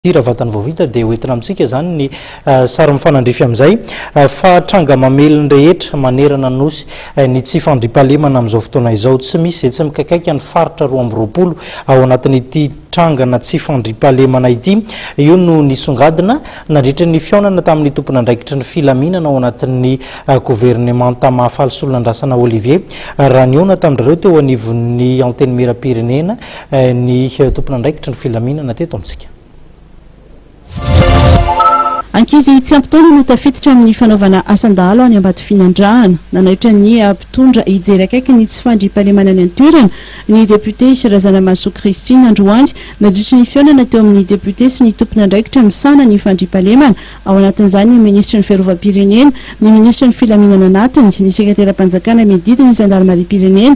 Hira vatany vao vita dia hoentina amintsika izany ny sary mifanandrify amin'izay fa tranga mamely ny rehetra manerana nosy ny tsy fandriampahalemana amin'izao fotoana izao. Tsy misy izay tsy mikakaika ny faritra roa amby roapolo ao anatin'ity trangana tsy fandriampahalemana ity. Io no nisongadina nandritra ny fihaonana tamin'ny tompon'andraikitry ny filaminana ao anatin'ny governemanta Mahafaly Solonandrasana Olivier raha nihaona tamin'ireo teo anivon'ny Antenimierampirenena Ny tompon'andraikitry ny filaminana teto amintsika. Ankizy tsy ampy taona no tafiditra amin'ny fanaovana asan-dahalo any Ambatofinandrahana. Nanaitra ny mpitondra hijery akaiky ny tsy fandriampahalemana any an-toerana ny depiote Razanamahasoa Christine androany nandritry ny fihaonana teo amin'ny depiote sy ny tompon'andraikitra misahana ny fandriampahalemana, ao anatin'izany ny minisitry ny fiarovam-pirenena, ny minisitry ny filaminana anatiny, ny sekateram-panjakana miadidy ny zandarimariam-pirenena,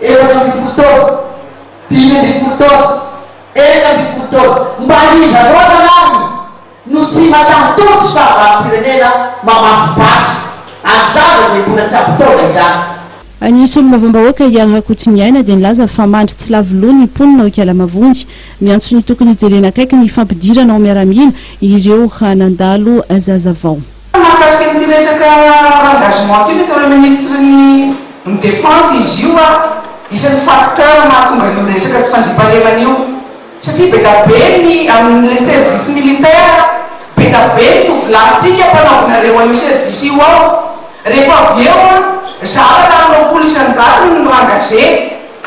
efatra ambin'ny folo taona, dimy ambin'ny folo taona, enina ambin'ny folo taona, mba iza loatra lany no tsy matan'ny tolo tsy fahavalom-pirenena mamatsipatsy any zaza izay mbola tsy ampy taona izany. Ny solombavambahoaka Yah Rakotsimiaina dia nilaza fa mandry tsy lavo loha ny mponina ao Ikala-Mavonjy. Miantso ny tokony hijerena akaiky ny fampidirana ao miaramila ireo nandalo zazavao. Mahakasika an'ity resaka engagement ity ve tsy amin'ilay ministry ny ny defense izy io an, isan'ny facteur mahatonga an'io resaka tsy fandriampahalemana io satria bedabe ny amin'ilay service militaire bedabe ny tovolahintsika mpanaovinareo an'io service io ao rehefa avy eo an zara raha roapolo isan-jatony no engagé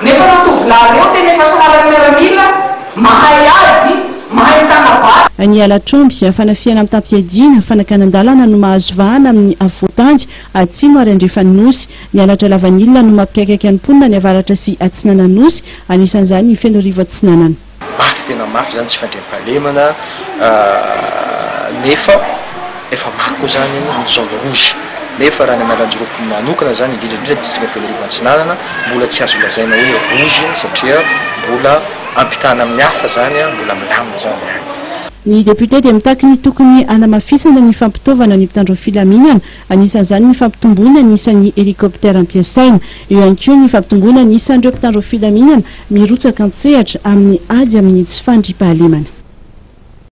Nefa ireo tovolahy ireo tena efa sahala ny miaramila, mahay ady, mahay mitana basy. Any Alatromby, fanafihana mitam-piadiana, fanakanan-dalana no mahazo vahana amin'ny afovoan-tany, atsimo ary andrefan'ny Nosy. Ny halatra lavanila no mampikaikaika ny mponina any avaratra sy atsinanan'ny Nosy, anisan'izany i Fenoarivo Atsinanana. Mafy tena mafy zany tsy fandriampahalemana nefa efa maro koa zany ny zone rouge nefa raha ny Analanjirofo manokana zany indrindra indrindra district Fianararivo Antsinanana mbola tsy azo lazaina hoe rouge satria mbola ampitahana amin'ny hafa zany mbola milamina zany any. Ny député dia mitaky ny tokony hanamafisana ny fampitaovana ny mpitandro filaminana Anisan'izany ny fampitomboana ny isan'ny hélicoptère ampiasaina. Eo ihany koa ny fampitomboana ny isan'ireo mpitandro filaminana mirotsaka an-tsehatra amin'ny ady amin'ny tsy fandriampahalemana.